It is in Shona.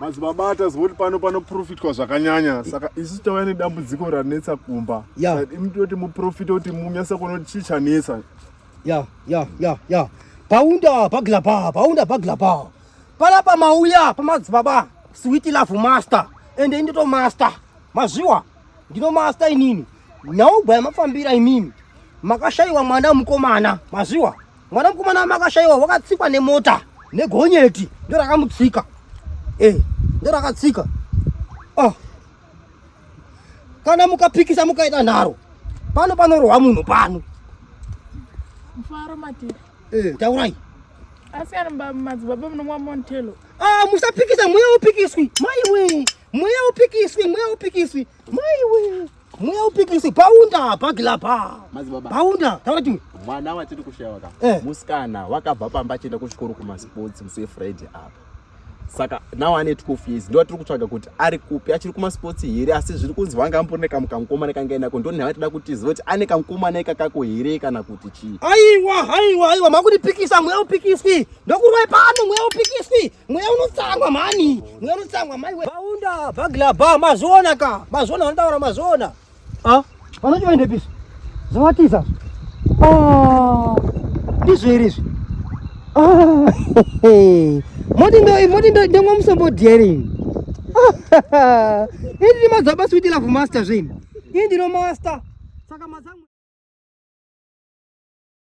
madzibaba atazwa kuti pano panoprofitwa zvakanyanya saka isu tauya nedambudziko ranetsa kumba yeah. imtoti muprofita kuti munyasa kuona kuti chii chanetsa ya ya ya ya paunda bagla pa paunda bagla pa pala pa mauya pa madzibaba sweet love master and ende to master mazviwa ndino master inini nyaubwa yamafambira imimi makashaiwa mwana mukomana mazviwa mwana mukomana wamakashaiwa wakatsikwa nemota negonyeti ndo rakamutsika eh, ndo rakatsika oh. kana mukapikisa mukaita nharo pano panorohwa munhu pano mfaro matiri eh, taurai ah, musapikisa mweya upikiswi maiwe mweya upikiswi mweya upikiswi maiwe Mweya upikisi paunda pagila pa. Mazibaba. Paunda taura chimwe. Mwana watiri kushaya ka. Eh. Musikana wakabva pamba achienda kuchikoro kuma sports musi Friday apa. Saka now ane 12 years ndo atiri kutsvaga kuti ari kupi achiri kuma sports here asi zviri kunzi vanga ambone kamu kamukoma nekanga inako ndo nhava tida kuti zivoti ane kamukoma neka kako here kana kuti chii. Aiwa aiwa aiwa makundipikisa mweya upikisi ndokurwai pano mweya upikisi mweya unotsangwa mhani mweya unotsangwa mai we baunda bagla ba mazona ka mazona vanotaura mazona ah vanoti vaende piso zvawatiza ah ndizvo here izvi ah moti ndo moti ndo ndemwa musombodyerini ah, ini ndimadzaba switi love master zvini ini ndino master saka mazangu